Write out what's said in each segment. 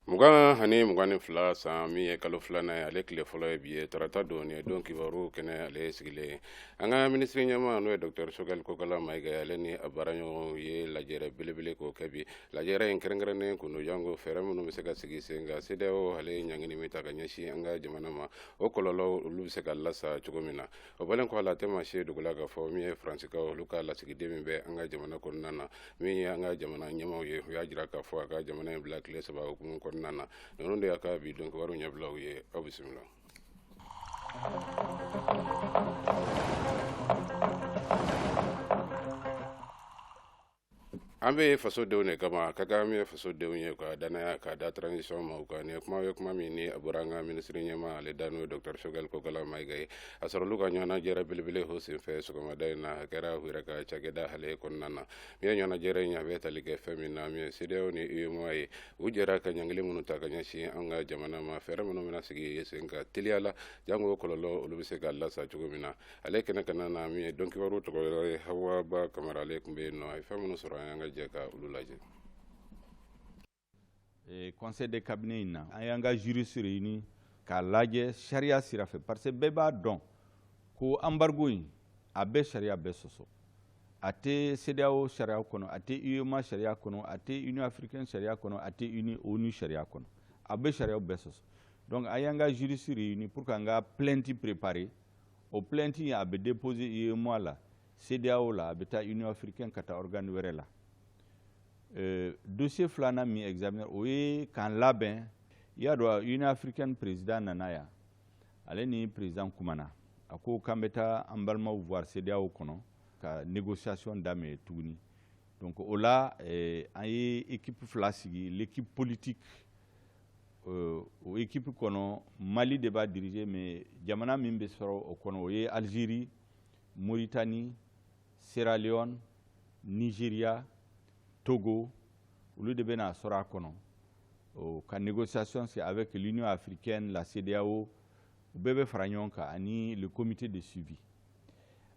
Mugan ani mugan ni fila san min ye kalo filanan ye ale tile fɔlɔ ye bi ye tarata don ye don kibaru kɛnɛ ale sigilen ye an ka minisiri ɲɛma n'o ye docteur Choguel Kokalla Maïga ale ni a baara ɲɔgɔn ye lajɛrɛ belebele k'o kɛ bi lajɛrɛ in kɛrɛnkɛrɛnnen kun don janko fɛɛrɛ minnu bɛ se ka sigi sen kan CEDEAO ale ye ɲangini min ta ka ɲɛsin an ka jamana ma o kɔlɔlɔw olu bɛ se ka lasa cogo min na o bɔlen kɔ ale tɛ maa si ye dogo la k'a fɔ min ye faransikaw olu ka lasigiden min bɛ an ka jamana kɔnɔna na min ye an ka jamana ɲɛmaw ye u y'a jira k'a fɔ a ka jamana in bila tile saba hukumu kɔnɔna na ninnu de y'an ka bi don kibaru ɲɛbilaw ye aw bisimila an bɛ faso denw de kama ka min ye faso denw ye ka dannaya ka da transition maaw kan nin kuma ye kuma min ni a bɔra an ka minisiri ɲɛma ale da n'o docteur Choguel Kokalla Maïga a sɔrɔ olu ka ɲɔgɔn lajɛrɛ belebele o senfɛ sɔgɔmada in na a kɛra a yɛrɛ ka cakɛda ale kɔnɔna na min ye ɲɔgɔn lajɛrɛ in a bɛ tali kɛ fɛn min na min ye CEDEAO ni UEMOA ye u jɛra ka ɲangili minnu ta ka ɲɛsin an ka jamana ma fɛɛrɛ minnu bɛna sigi sen kan teliya la janko kɔlɔlɔ olu bɛ se ka lasa cogo min na ale kɛnɛ kan na min ye don kibaru tɔgɔ yɔrɔ ye Hawa Ba Camara ale tun bɛ yen nɔ a ye fɛn minnu sɔrɔ a' y'an ka jɛ ka olu lajɛ eh, conseil de cabinet in na an y'an ka juriste réuni k'a lajɛ sariya sira fɛ parce que bɛɛ b'a dɔn ko embargo in a bɛ sariya bɛɛ sɔsɔ a tɛ CEDEAO sariya kɔnɔ a tɛ UEMOA sariya kɔnɔ a tɛ Union africaine sariya kɔnɔ a tɛ uni ONU sariya kɔnɔ a bɛ sariyaw bɛɛ sɔsɔ donc an y'an ka juriste réuni pour que an ka plainte préparer o plainte in a bɛ déposer UEMOA la CEDEAO la a bɛ taa Union africaine ka taa organe wɛrɛ la euh, dossier filanan min examiner o ye k'an labɛn i y'a dɔn Union africaine président nana yan ale ni président kumana a ko k'an bɛ taa an balimaw voir CEDEAO kɔnɔ ka négociation daminɛ tuguni donc o la eh, an ye équipe fila sigi l'équipe politique Euh, o équipe kɔnɔ Mali de b'a diriger mais jamana min bɛ sɔrɔ o kɔnɔ o ye Algérie, Mauritanie, Sierra Leone, Nigeria, Togo olu de bɛna sɔrɔ a kɔnɔ o ka négociation c'est avec l'Union africaine, la CEDEAO u bɛɛ bɛ fara ɲɔgɔn kan ani le comité de suivi.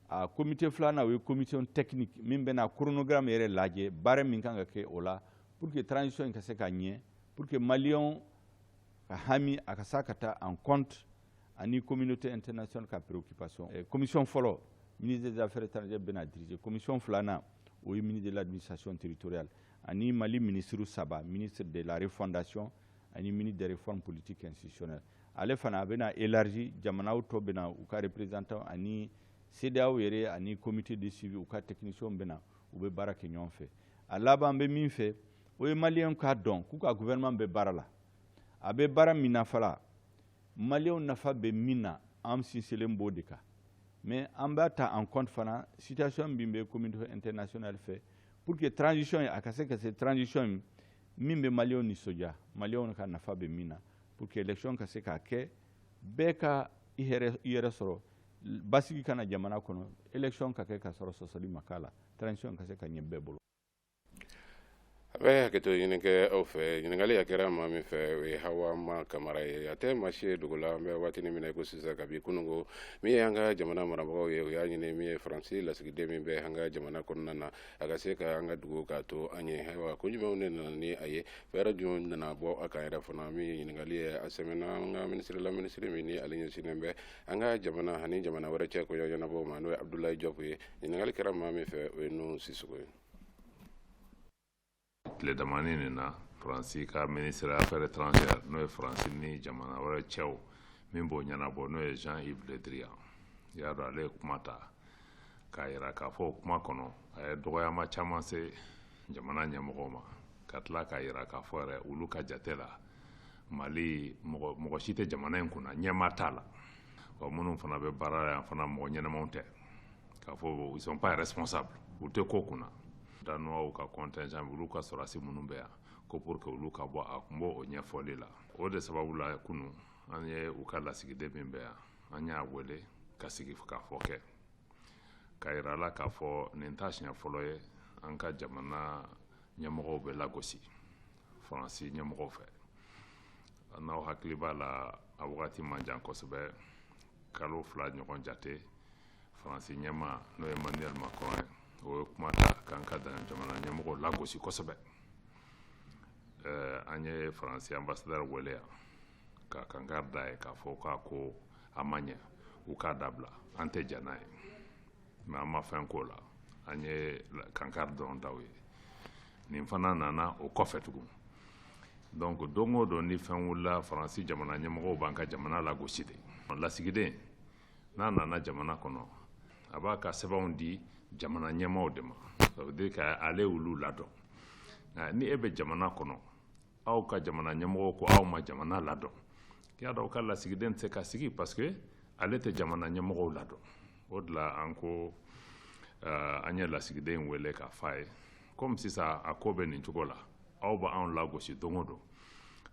a comité filanan o ye commission technique min bɛna chronogramme yɛrɛ lajɛ baara min ka kan ka kɛ o la pour que transition in ka se ka ɲɛ pour que maliyɛnw ka hami a ka se ka taa en compte ani communauté internationale ka préoccupation eh, commission fɔlɔ ministre des affaires étrangères bɛn'a diriger commission filanan o ye ministre de l'administration territoriale ani mali ministre saba ministre de la refondation ani ministre des réformes politiques institutionnelles ale fana a bɛna élargi jamanaw tɔ bɛna u ka représentant ani CEDEAO yɛrɛ ani comité de suivi u ka technicienw bɛna u bɛ baara kɛ ɲɔgɔn fɛ a laban bɛ min fɛ o ye maliyɛnw k'a dɔn k'u ka gouvernement bɛ baara la a bɛ baara min na fala maliyɛnw nafa bɛ min na an sinsinlen b'o de kan mais an b'a ta en compte fana situation min bɛ communauté internationale fɛ pour que transition in a ka se ka se transition in min bɛ maliyɛnw nisɔndiya maliyɛnw ka nafa bɛ min na pour que election ka se ka kɛ bɛɛ ka i yɛrɛ sɔrɔ basigi ka na jamana kɔnɔ election ka kɛ ka sɔrɔ sɔsɔli ma k'a la transition ka se ka ɲɛ bɛɛ bolo a bɛ hakɛto ɲini kɛ aw fɛ ɲininkali a kɛra maa min fɛ o ye hawa ma kamara ye a tɛ maa si ye dogo la an bɛ waatini min na i ko sisan kabi kunun min ye an ka jamana marabagaw ye o y'a ɲini min ye faransi lasigiden min bɛ an ka jamana kɔnɔna na a ka se ka an ka dugu k'a to an ye ayiwa ko jumɛnw de nana ni a ye fɛɛrɛ jumɛn nana bɔ a kan yɛrɛ fana min ɲininkali ye a sɛmɛna an ka minisiri la minisiri min ni ale ɲɛsinnen bɛ an ka jamana ani jamana wɛrɛ cɛ ko ɲɛnabɔ ma n'o ye abudulayi jɔpu ye ɲininkali kɛra maa min fɛ o ye nu sisoko ye tile damani nin na faransi ka ministre affaire étrangère n'o ye faransi ni jamana wɛrɛ cɛw min b'o ɲɛnabɔ n'o ye jean yves le drian i y'a dɔn ale ye kuma ta k'a yira k'a fɔ o kuma kɔnɔ a ye dɔgɔyama caman se jamana ɲɛmɔgɔw ma ka tila k'a yira k'a fɔ yɛrɛ olu ka jate la mali mɔgɔ mɔgɔ si tɛ jamana in kunna ɲɛmaa t'a la wa minnu fana bɛ baara la yan fana mɔgɔ ɲɛnamaw tɛ k'a fɔ ils sont pas responsables u tɛ ko kunna Danoisw ka contingent olu ka sɔrɔdasi minnu bɛ yan ko pour que olu ka bɔ a kun b'o o ɲɛfɔli la o de sababu la kunu an ye u ka lasigiden min bɛ yan an y'a wele ka sigikafɔ kɛ k'a yira a la k'a fɔ nin t'a siɲɛ fɔlɔ ye an ka jamana ɲɛmɔgɔw bɛ lagosi faransi ɲɛmɔgɔw fɛ n'aw hakili b'a la a wagati man jan kosɛbɛ kalo fila ɲɔgɔn jate faransi ɲɛmaa n'o ye manuel macron ye o ye kuma ta k'an ka jamana ɲɛmɔgɔ lagosi kosɛbɛ eh, an ye faransi ambasadɛri wele yan ka kankari da a ye k'a fɔ k'a ko a ma ɲɛ u k'a dabila an tɛ jɛn n'a ye mais an ma fɛn k'o la an ye kankari dɔrɔn da u ye nin fana nana o kɔfɛ tugun donc don o don ni fɛn wulila faransi jamana ɲɛmɔgɔw b'an ka jamana lagosi de lasigiden n'a nana jamana kɔnɔ a b'a ka sɛbɛnw di jamana ɲɛmaaw de ma ça veut dire ka ale olu ladɔn nka ni e bɛ jamana kɔnɔ aw ka jamana ɲɛmɔgɔw ko aw ma jamana ladɔn i y'a dɔn aw ka lasigiden tɛ se ka sigi parce que ale tɛ jamana ɲɛmɔgɔw ladɔn o de la an ko uh, an ye lasigiden in wele k'a fɔ a ye komi sisan a ko bɛ nin cogo la aw b'anw lagosi don o don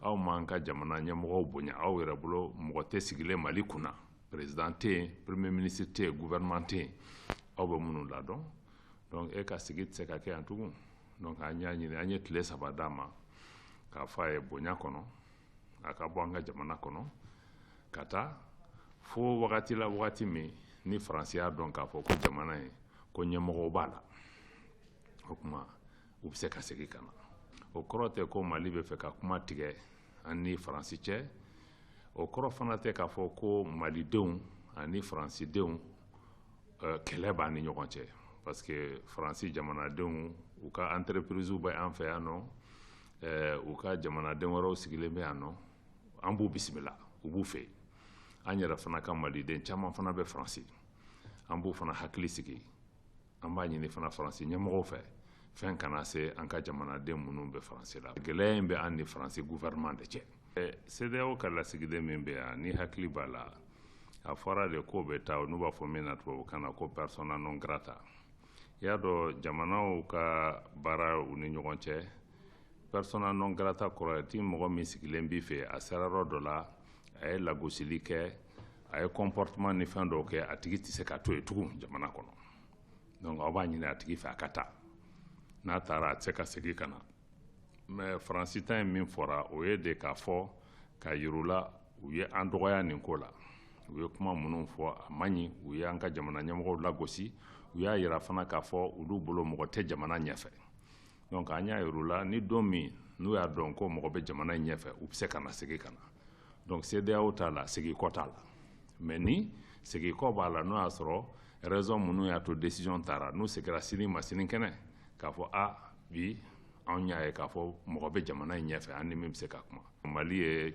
aw m'an ka jamana ɲɛmɔgɔw bonya aw yɛrɛ bolo mɔgɔ tɛ sigilen mali kunna perezidan tɛ yen premier ministre tɛ yen gouvernement tɛ yen aw bɛ minnu ladɔn donc e ka sigi tɛ se ka kɛ yan tugun donc an y'a ɲini an ye tile saba d'a ma k'a fɔ a ye bonya kɔnɔ a ka bɔ an ka jamana kɔnɔ ka taa fo wagati la wagati min ni faransi y'a dɔn k'a fɔ ko jamana ye ko ɲɛmɔgɔw b'a la o tuma u bɛ se ka segin ka na o kɔrɔ tɛ ko mali bɛ fɛ ka kuma tigɛ an ni faransi cɛ o kɔrɔ fana tɛ k'a fɔ ko malidenw ani faransidenw eh, kɛlɛ b'an ni ɲɔgɔn cɛ parce que faransi jamanadenw u ka entreprise bɛ an fɛ yan nɔ eh, u ka jamanaden wɛrɛw sigilen bɛ yan nɔ an b'u bisimila an b'u fɛ an yɛrɛ fana ka maliden caman fana bɛ faransi an b'u fana hakili sigi an b'a ɲini fana faransi ɲɛmɔgɔw fɛ fɛn kana se an ka jamanaden minnu bɛ faransi la gɛlɛya in bɛ an ni faransi gouvernement de cɛ CEDEAO ka lasigiden min bɛ yan n'i hakili b'a la a fɔra de k'o bɛ taa n'u b'a fɔ min na tubabukan na ko persona non grata i y'a dɔn jamanaw ka baara u ni ɲɔgɔn cɛ persona non grata kɔrɔ ye di mɔgɔ min sigilen b'i fɛ a sera yɔrɔ dɔ la a ye lagosili kɛ a ye comportement ni fɛn dɔw kɛ a tigi tɛ se ka to yen tugun jamana kɔnɔ dɔnku aw b'a ɲini a tigi fɛ a ka taa n'a taara a tɛ se ka segin ka na mɛ faransi ta ye min fɔra o ye de k'a fɔ k'a yir'u la u ye an dɔgɔya nin ko la u ye kuma minnu fɔ a man ɲi u ye an ka jamana ɲɛmɔgɔ lagosi u y'a jira fana k'a fɔ olu bolo mɔgɔ tɛ jamana ɲɛfɛ dɔnku an y'a yir'u la ni don min n'u y'a dɔn ko mɔgɔ bɛ jamana ɲɛfɛ u bɛ se ka na segin ka na donc CEDEAO ta la segin kɔ t'a la mais nin segin kɔ b'a la n'o y'a sɔrɔ raison minnu y'a to décision tara n'u segira sini ma sinikɛnɛ k'a fɔ a bi anw y'a ye k'a fɔ mɔgɔ bɛ jamana in ɲɛfɛ an ni min bɛ se ka kuma mali ye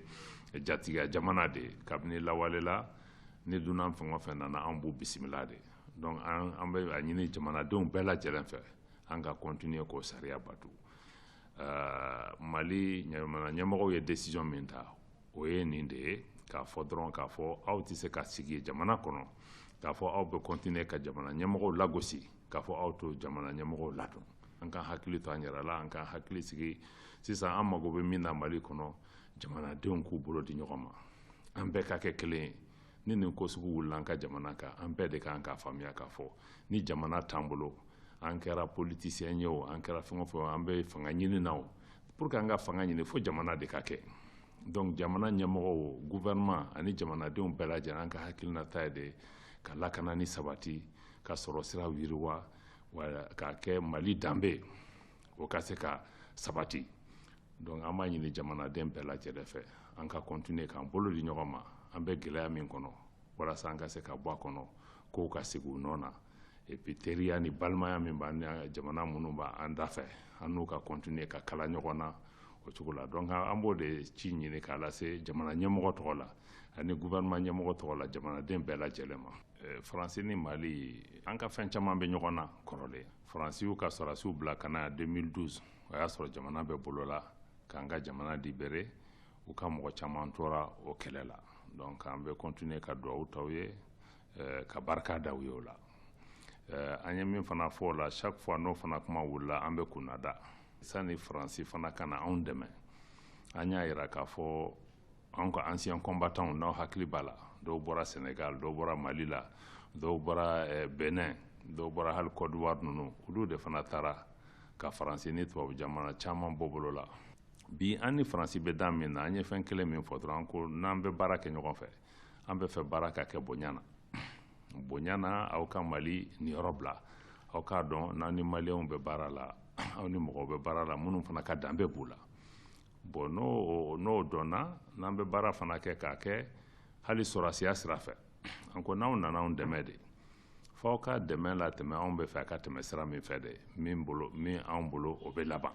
jatigiya jamana de ye kabini lawale la ni dunan fɛn o fɛn nana an b'u bisimila de donc an bɛ a ɲini jamanadenw bɛɛ lajɛlen fɛ an ka continuer k'o sariya bato mali jamana ɲɛmɔgɔw ye desizɔn min ta o ye nin de ye k'a fɔ dɔrɔn k'a fɔ aw tɛ se ka sigi jamana kɔnɔ k'a fɔ aw bɛ kɔntine ka jamana ɲɛmɔgɔw lagosi k'a fɔ aw t'o jamana ɲɛmɔgɔw ladɔn an ka hakili to an yɛrɛ la an ka hakili sigi sisan an mago bɛ min na mali kɔnɔ jamanadenw k'u bolo di ɲɔgɔn ma an bɛɛ ka kɛ kelen ye ni nin ko sugu wulila an ka jamana kan an bɛɛ de ka kan k'a faamuya k'a fɔ ni jamana t'an bolo an kɛra politisiyɛn ye o an kɛra fɛn o fɛn an bɛ fanga ɲini na o pour que an ka fanga ɲini fo jamana de ka kɛ donc jamana ɲɛmɔgɔw gouvernement ani jamanadenw bɛɛ lajɛlen an ka hakilinata ye de ka lakana ni sabati ka sɔrɔ sira yiriwa k'a kɛ mali danbe o ka se ka sabati donc an b'a ɲini jamanaden bɛɛ lajɛlen fɛ an ka continuer k'an bolo di ɲɔgɔn ma an bɛ gɛlɛya min kɔnɔ walasa an ka se ka bɔ a kɔnɔ kow ka sigi u nɔ na et puis teriya ni balimaya min b'an ni jamana minnu b'an da fɛ an n'u ka continuer ka kala ɲɔgɔn na o cogo la donc an b'o de ci ɲini k'a lase jamana ɲɛmɔgɔ tɔgɔ la ani gouvernement ɲɛmɔgɔ tɔgɔ la jamanaden bɛɛ lajɛlen ma faransi ni mali an ka fɛn caman bɛ ɲɔgɔn na kɔrɔlen faransi y'u ka sɔrɔdasiw bila ka na 2012 o y'a sɔrɔ jamana bɛ bolo la k'an ka jamana libérer u ka mɔgɔ caman tora o kɛlɛ la donc an bɛ continuer ka duwawu ta u ye eh, ka barika da u ye o la eh, an ye min fana fɔ o la chaque fois n'o fana kuma wulila an bɛ kunnada sani faransi fana ka na anw dɛmɛ an y'a jira k'a fɔ anw ka anciens combattants n'aw hakili b'a la dɔw bɔra Sénégal dɔw bɔra Mali la dɔw bɔra eh, Bénin dɔw bɔra hali Côte d'Ivoire ninnu olu de fana taara ka faransi ni tubabu jamana caman bɔ bolo la bi an ni faransi bɛ dan min na an ye fɛn kelen min fɔ dɔrɔn an ko n'an bɛ baara kɛ ɲɔgɔn fɛ an b'a fɛ baara ka kɛ bonya na bonya na aw ka mali niyɔrɔ bila aw k'a dɔn n'aw ni maliyɛnw bɛ baara la aw ni mɔgɔw bɛ baara la minnu fana ka danbe b'u la bɔn n'o n'o dɔnna n'an bɛ baara fana kɛ k'a kɛ hali sɔrɔdasiya sira fɛ an ko n'aw nana anw dɛmɛ de f'aw ka dɛmɛ latɛmɛ anw b'a fɛ a ka tɛmɛ sira min fɛ de min bolo min anw bolo o bɛ laban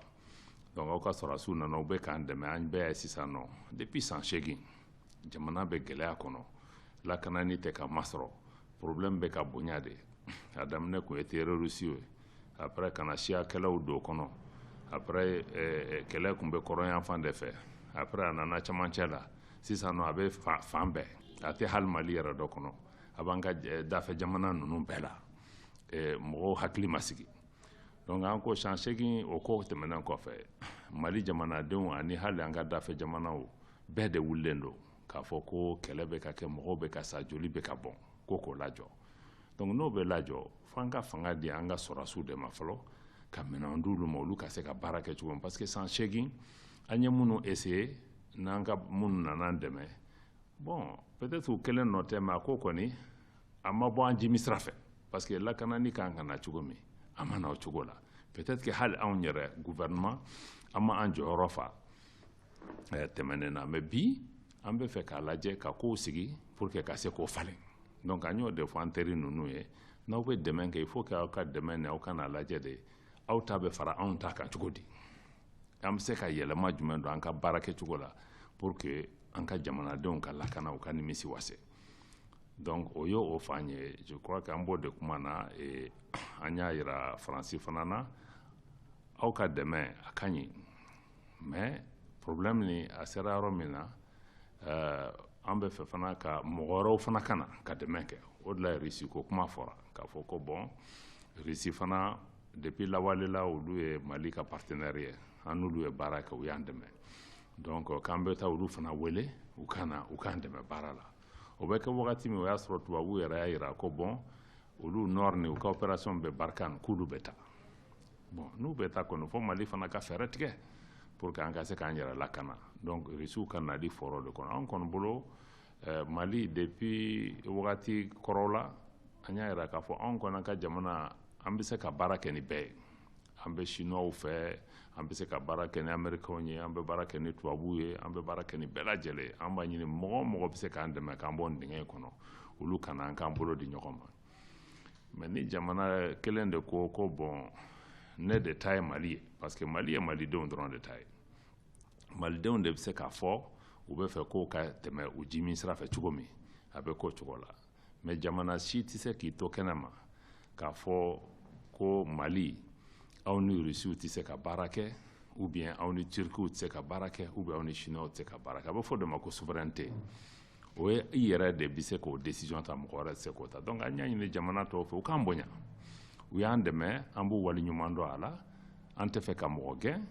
donc aw ka sɔrɔdasiw nana u bɛ k'an dɛmɛ an bɛɛ y'a ye sisan nɔ depuis san seegin jamana bɛ gɛlɛya kɔnɔ lakanani tɛ ka masɔrɔ problème bɛ ka bonya de a daminɛ tun ye terorisiw ye après ka na siya kɛlɛw don a kɔnɔ après eh, eh, kɛlɛ tun bɛ kɔrɔnyanfan de fɛ après a nana camancɛ la sisan nɔ a bɛ fan bɛɛ a tɛ hali mali yɛrɛ dɔrɔn kɔnɔ a b'an ka eh, dafɛ jamana ninnu bɛɛ la mɔgɔw hakili ma sigi donc an ko san seegin o ko tɛmɛnen kɔfɛ mali jamanadenw ani hali an ka dafɛ jamanaw bɛɛ de wulilen don k'a fɔ ko kɛlɛ bɛ ka kɛ mɔgɔw bɛ ka sa joli bɛ ka bɔn ko k'o lajɔ donc n'o bɛ lajɔ fo an ka fanga di an ka sɔrɔdasiw de ma fɔlɔ ka minɛn di olu ma olu ka se ka baara kɛ cogo min parce que san seegin an ye minnu essayer n'an ka minnu nana an dɛmɛ bon peut-être u kelen nɔ tɛ mais a ko kɔni a ma bɔ an jigi sira fɛ parce que lakanani kan ka na cogo min a ma na o cogo la peut-être que hali anw yɛrɛ gouvernement an ma an jɔyɔrɔ fa eh, tɛmɛnen na mais bi an b'a fɛ k'a lajɛ ka kow sigi pour que ka se k'o falen donc an y'o de fɔ an teri ninnu ye n'aw bɛ dɛmɛ kɛ il faut que aw ka dɛmɛ nin aw ka n'a lajɛ de aw ta bɛ fara anw ta kan cogo di an bɛ se ka yɛlɛma jumɛn don an ka baara kɛcogo la pour que an ka jamanadenw ka lakana u ka nimisi wasa donc o ye o fan ye je crois que an b'o de kuma na eh, an y'a yira faransi fana na aw ka dɛmɛ a ka ɲi mais problème nin a sera yɔrɔ min na eh, an bɛ fɛ fana ka mɔgɔ wɛrɛw fana ka na ka dɛmɛ kɛ o de la rusi ko kuma fɔra k'a fɔ ko bon rusi fana Depuis lawale la olu ye Mali ka partenaire ye an n'olu ye baara kɛ u y'an dɛmɛ donc euh, k'an bɛ taa olu fana wele u ka na u k'an dɛmɛ baara la o bɛ kɛ wagati min o y'a sɔrɔ tubabuw yɛrɛ y'a yira ko bon olu nɔr ni u ka opération bɛ Barkhane k'olu bɛ taa bon n'u bɛ taa kɔni fo mali fana ka fɛɛrɛ tigɛ pour que an ka se k'an yɛrɛ lakana donc rusiw ka nali fɔra o de kɔnɔ an kɔni bolo eh, mali depuis wagati kɔrɔw la an y'a yira k'a fɔ anw kɔni ka jamana an bɛ se ka baara kɛ ni bɛɛ ye an bɛ sinuwaw fɛ an bɛ se ka baara kɛ ni amerikɛnw ye an bɛ baara kɛ ni tubabuw ye an bɛ baara kɛ ni bɛɛ lajɛlen ye an b'a ɲini mɔgɔ o mɔgɔ bɛ se k'an dɛmɛ k'an bɔ nin dingɛ in kɔnɔ olu ka na an k'an bolo di ɲɔgɔn ma mais ni jamana kelen de ko ko bon ne de ta ye mali ye parce que mali ye malidenw dɔrɔn de ta ye malidenw de bɛ se k'a fɔ u bɛ fɛ k'o ka tɛmɛ u ji min sira fɛ cogo min a bɛ k'o cogo la mais jamana si tɛ se k'i to kɛnɛ ma k'a fɔ ko mali aw ni rusiw tɛ se ka baara kɛ ou bien aw ni turkiw tɛ se ka baara kɛ ou bien aw ni chinois tɛ se ka baara kɛ a bɛ f'o de ma ko souveraineté o ye i yɛrɛ de bɛ se k'o décision ta mɔgɔ wɛrɛ tɛ se k'o ta donc an y'a ɲini jamana tɔw fɛ u k'an bonya u y'an dɛmɛ an b'u waleɲuman dɔn a la an tɛ fɛ ka mɔgɔ gɛn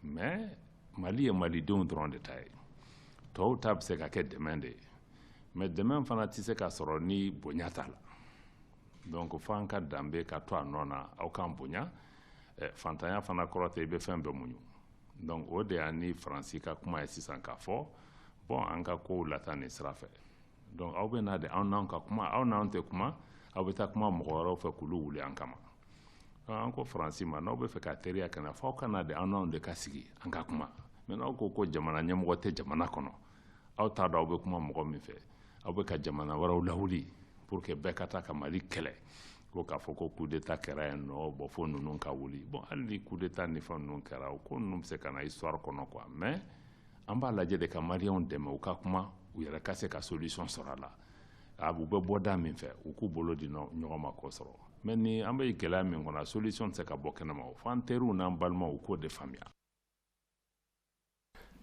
mais mali ye malidenw dɔrɔn de ta ye tɔw ta bɛ se ka kɛ dɛmɛ de ye mais dɛmɛ fana tɛ se ka sɔrɔ ni bonya t'a la donc fo an ka danbe ka to a nɔ na aw k'an bonya eh, fantanya fana kɔrɔ tɛ i bɛ fɛn bɛɛ muɲu donc o de y'an ni faransi ka kuma ye sisan k'a fɔ bon an ka kow lata nin sira fɛ donc aw bɛ na de anw n'aw ka kuma aw n'anw tɛ kuma aw bɛ taa kuma mɔgɔ wɛrɛw fɛ k'olu wuli an kama an ko faransi ma n'aw bɛ fɛ ka teriya kan fɔ aw ka na de an n'aw de ka sigi an ka kuma mais n'aw ko ko jamana ɲɛmɔgɔ tɛ jamana kɔnɔ aw t'a dɔn aw bɛ kuma mɔgɔ min fɛ aw bɛ ka jamana wɛrɛw lawuli pour que bɛɛ ka taa ka mali kɛlɛ ko k'a fɔ ko coup d'état kɛra yan non bon fo ninnu ka wuli bon hali ni coup d'état ni fɛn ninnu kɛra o ko ninnu bɛ se ka na histoire kɔnɔ quoi mais an b'a lajɛ de ka maliyɛnw dɛmɛ u ka kuma u yɛrɛ ka se ka solution sɔrɔ a la a u bɛ bɔ da min fɛ u k'u bolo di ɲɔgɔn ma k'o sɔrɔ mɛ ni an bɛ gɛlɛya min kɔnɔ solution tɛ se ka bɔ kɛnɛma o f'an teriw n'an balimaw k'o de faamuya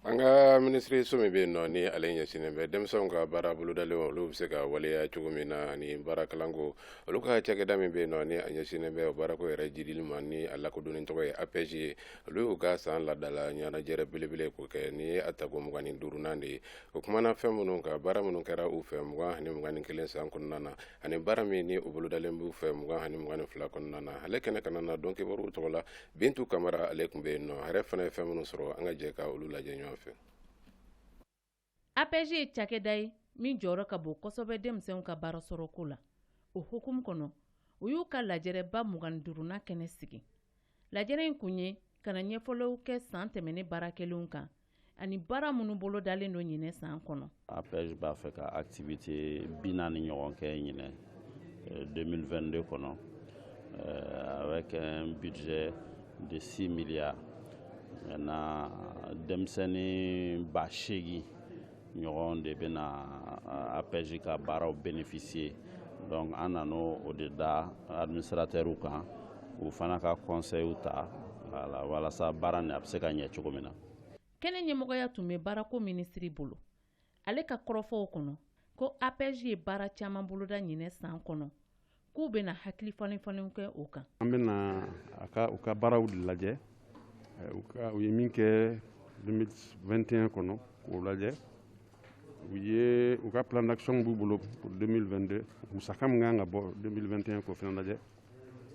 an ka minisiri so min bɛ yen nɔ ni ale ɲɛsinnen bɛ denmisɛnw ka baara bolodalenw olu bɛ se ka waleya cogo min na ani baara kalanko olu ka cakɛda min bɛ yen nɔ ni a ɲɛsinnen bɛ baarako yɛrɛ jiidili ma ni a lakodɔnnen tɔgɔ ye APEJ ye olu y'u ka san laadala ɲɔgɔnlajɛrɛ belebele k'o kɛ n'o ye a tako mugan ni duurunan de ye o kumana fɛn minnu ka baara minnu kɛra u fɛ mugan ani mugan ni kelen san kɔnɔna na ani baara min ni u bolodalen b'u fɛ mugan ani mugan ni fila kɔnɔna na ale kɛnɛ kanna na don kibaruw tɔgɔ la bintu kamara ale tun bɛ yen nɔ a yɛrɛ fana ye fɛn minnu sɔrɔ an ka jɛ ka olu lajɛ ɲɔgɔn fɛ APEJ ye cakɛda ye min jɔyɔrɔ ka bon kosɛbɛ denmisɛnw ka baara sɔrɔko la o hukumu kɔnɔ u y'u ka lajɛrɛba mugan ni duurunan kɛnɛ sigi Lajɛrɛ in kun ye ka ɲɛfɔliw kɛ san tɛmɛnen baara kɛlenw kan ani baara minnu bolodalen don ɲinɛ san kɔnɔ APEJ b'a fɛ ka activité bi naani ɲɔgɔn kɛ ɲinɛ 2022 kɔnɔ avec un budget de 6 milliards denmisɛnnin ba seegin ɲɔgɔn de bɛna euh, apɛji ka baaraw bénéficier donc an nan'o de da administratɛriw kan u fana ka kɔnsɛyiw ta wala walasa baara nin a bɛ se ka ɲɛ cogo min na kɛnɛ ɲɛmɔgɔya tun bɛ baarako minisiri bolo ale ka kɔrɔfɔw kɔnɔ ko apɛji ye baara caman boloda ɲinɛ san kɔnɔ k'u bɛna hakili falenfalenw kɛ o kan an bɛna a ka u ka baaraw de lajɛ u ye min kɛ 2021 kɔnɔ k'o lajɛ u ye u ka plan d'action b'u bolo pour 2022 musaka min kan ka bɔ 2021 k'o fana lajɛ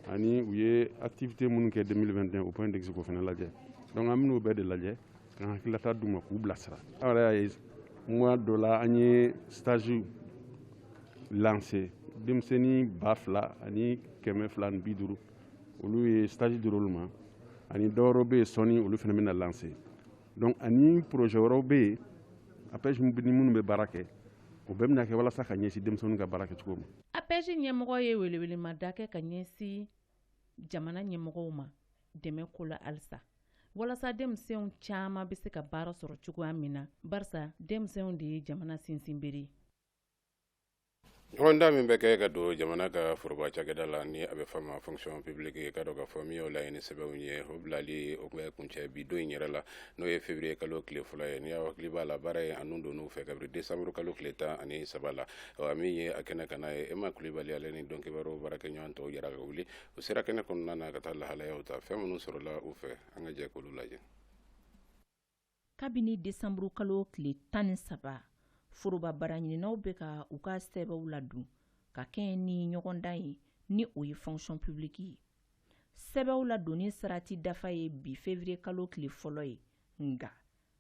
ani u ye activité minnu kɛ 2021 au point d'exe k'o fana lajɛ donc an bɛn'o bɛɛ de lajɛ ka hakililata d'u ma k'u bilasira aw yɛrɛ y'a ye mois d'août la an ye stage lancer denmisɛnnin ba fila ani kɛmɛ fila ni bi duuru olu ye stage dira olu ma ani dɔ wɛrɛw bɛ yen sɔɔni olu fana bɛna lancer donc ani projet wɛrɛw bɛ yen APEJ ni minnu bɛ baara kɛ o bɛɛ bɛna kɛ walasa ka ɲɛsin denmisɛnninw ka baara kɛcogo ma. APEJ ɲɛmɔgɔ ye weleweleda kɛ ka ɲɛsin jamana ɲɛmɔgɔw ma dɛmɛko la halisa walasa denmisɛnw caman bɛ se ka baara sɔrɔ cogoya min na barisa denmisɛnw de ye jamana sinsinbere ɲɔgɔndan min bɛ kɛ ka don jamana ka foroba cakɛda la ni a bɛ f'a ma fonction publique ka don ka fɔ min o laɲini sɛbɛnw ye o bilali o bɛ kuncɛ bi don in yɛrɛ la n'o ye feburuyekalo tile fɔlɔ ye ni aw hakili b'a la baara ye a nun don u fɛ kabiri desanburukalo tile tan ani saba la ɔ min ye a kɛnɛ ka n'a ye ema kulibali ale ni don kibaruw baarakɛɲɔgɔn tɔw jɛra ka wuli u sera kɛnɛ kɔnɔna na ka taa lahalayaw ta fɛn minnu sɔrɔla u fɛ an ka jɛ k'olu lajɛ kabini desanburu kalo tile tan ni saba foroba baaraɲininaw bɛ ka u ka sɛbɛw ladon ka kɛɲɛ ni ɲɔgɔndan ye ni o ye fonction publique ye sɛbɛw ladonni sarati dafa ye bi fevrier kalo tile fɔlɔ ye nka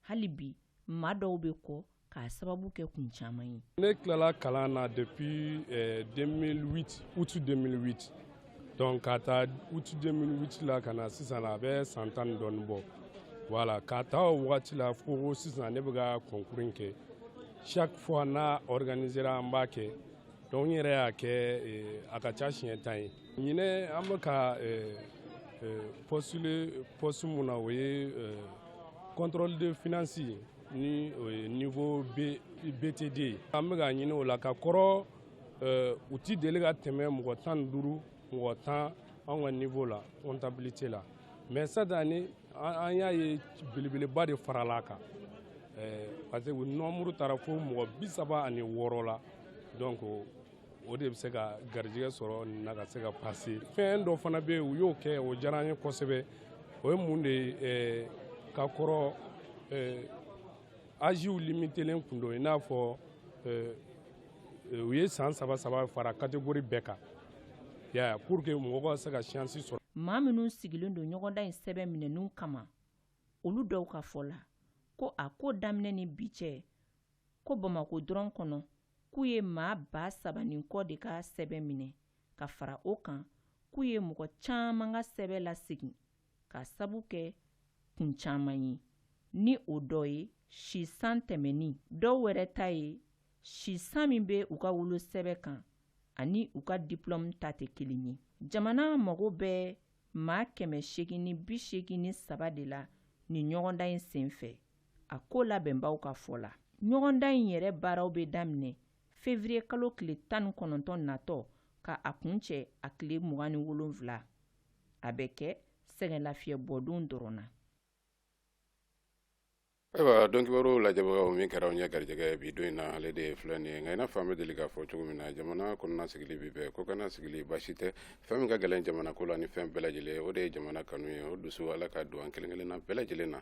hali bi maa dɔw bɛ kɔ k'a sababu kɛ kun caman ye ne tilala kalan na depuis 2008 eh, août 2008 donc ka taa août 2008 la ka na sisan na a bɛ san tan ni dɔɔni bɔ voilà ka taa o wagati la fo sisan ne bɛ ka concours kɛ chaque fois n'a organisera an b'a kɛ donc n yɛrɛ y'a kɛ eh, a ka ca siɲɛ tan ye ɲinɛ an bɛ ka postuler poste min na o ye contrôle de finance ni o ye niveau BT2 ye an bɛ ka ɲini o la ka kɔrɔ u ti deli ka tɛmɛ mɔgɔ tan ni duuru mɔgɔ tan anw ka niveau la comptabilité la mais cette année an y'a ye belebeleba de farala a kan parce que u nombre taara fo mɔgɔ bi saba ani wɔɔrɔ la donc o de bɛ se ka garijɛgɛ sɔrɔ nin na ka se ka passer fɛn dɔ fana bɛ yen u y'o kɛ o diyara n ye kosɛbɛ o ye mun de ye eh, ka kɔrɔ eh, aziw limitelen kun don i n'a fɔ eh, u ye san saba saba fara kategori bɛɛ kan ya pour que mɔgɔ ka se ka chance sɔrɔ maa minnu sigilen don ɲɔgɔndan in sɛbɛn minɛni kama olu dɔw ka fɔ la ko a ko daminɛ ni bi cɛ ko bamakɔ dɔrɔn kɔnɔ k'u ye maa ba saba ni kɔ de ka sɛbɛn minɛ ka fara o kan k'u ye mɔgɔ caman ka sɛbɛn lasegin k'a sabu kɛ kun caman ye ni o dɔ ye si san tɛmɛnni dɔw wɛrɛ ta ye si san min bɛ u ka wolosɛbɛn kan ani u ka diplɔmu ta tɛ kelen ye jamana mago bɛ maa kɛmɛ seegin ni bi seegin ni saba de la ni ɲɔgɔndan in senfɛ a ko labɛnbaw ka fɔ la ɲɔgɔndan in yɛrɛ baaraw bɛ daminɛ fevrier kalo tile tan ni kɔnɔntɔn natɔ ka a kuncɛ a tile mugan ni wolonwula a bɛ kɛ sɛgɛnlafiɲɛbɔdon dɔrɔn na ayiwa don kibaruw lajɛbagaw min kɛra an ye garijɛgɛ bi don in na ale de ye filɛ nin ye nka i n'a fɔ an bɛ deli k'a fɔ cogo min na jamana kɔnɔna sigili bi bɛɛ ko kana sigili basi tɛ fɛn min ka gɛlɛn jamana ko la ni fɛn bɛɛ lajɛlen o de ye jamana kanu ye o dusu ala k'a don an kelen kelenna bɛɛ lajɛlen na